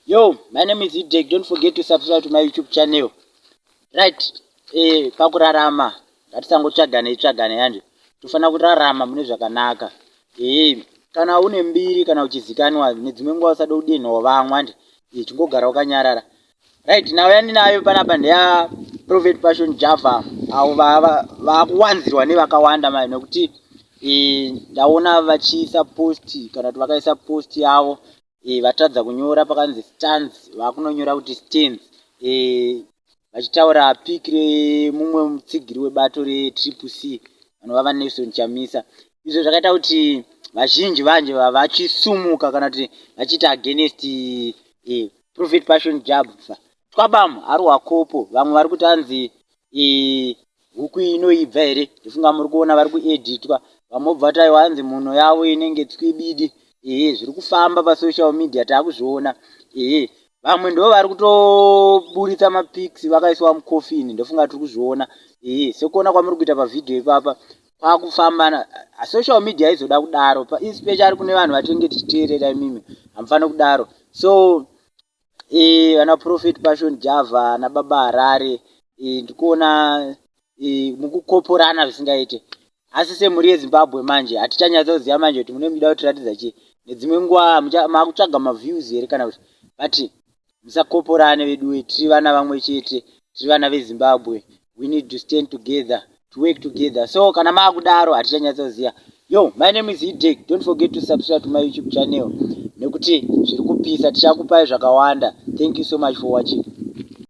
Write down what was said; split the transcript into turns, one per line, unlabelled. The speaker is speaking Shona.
Yo, my name is Idek. Don't forget to subscribe to my YouTube channel. Right, eh, pakurarama ngatisangotsvagane itsvagane yanje tofanira kurarama mune zvakanaka eh, kana une mbiri kana uchizikanwa nedzimwe nguva usada kudenhawo vamwe ande eh, chingogara wakanyarara right nhau yandinayo panapa ndeya prophet passion java avo vakuwanzirwa nevakawanda mai nokuti e, ndaona vachiisa post kana kuti vakaisa post yavo e, vatadza kunyora pakanzi stands vakunonyora kuti stands e, vachitaura piki remumwe mutsigiri webato retriple c vanova vanelson chamisa izvo zvakaita kuti vazhinji vanje vachisumuka kana kuti vachiita against e, prophet passion jabva twabam ari wakopo vamwe vari kuti anzi huku inoibva here ndifunga muri kuona vari kueditwa vamwe obva kuti aiwa anzi muno yavo inenge tswibidi ehe zviri kufamba pasocial media taakuzviona ehe vamwe ndo vari kutoburitsa mapics vakaiswa mucoffin ndofunga tiri kuzviona ehe sekuona kwamuri kuita pavhidhiyo ipapa kwakufamba ah, social media aizoda kudaro especially kune vanhu vatinenge tichiteerera imimi hamufani kudaro so eh, vana profet passion java nababa harare eh, ndikuona eh, mukukoporana zvisingaite asi semhuri yezimbabwe manje hatichanyatsa kuziva manje kuti mune muda kutiratidza chii nedzimwe nguva makutsvaga maviews here kana kuti but musakoporane veduwe tiri vana vamwe chete tiri vana vezimbabwe we need to stand together to work together so kana maakudaro hatichanyatsoziva yo my name is hidek don't forget to subscribe to my youtube channel nekuti zviri kupisa tichakupai zvakawanda thank you so much for watching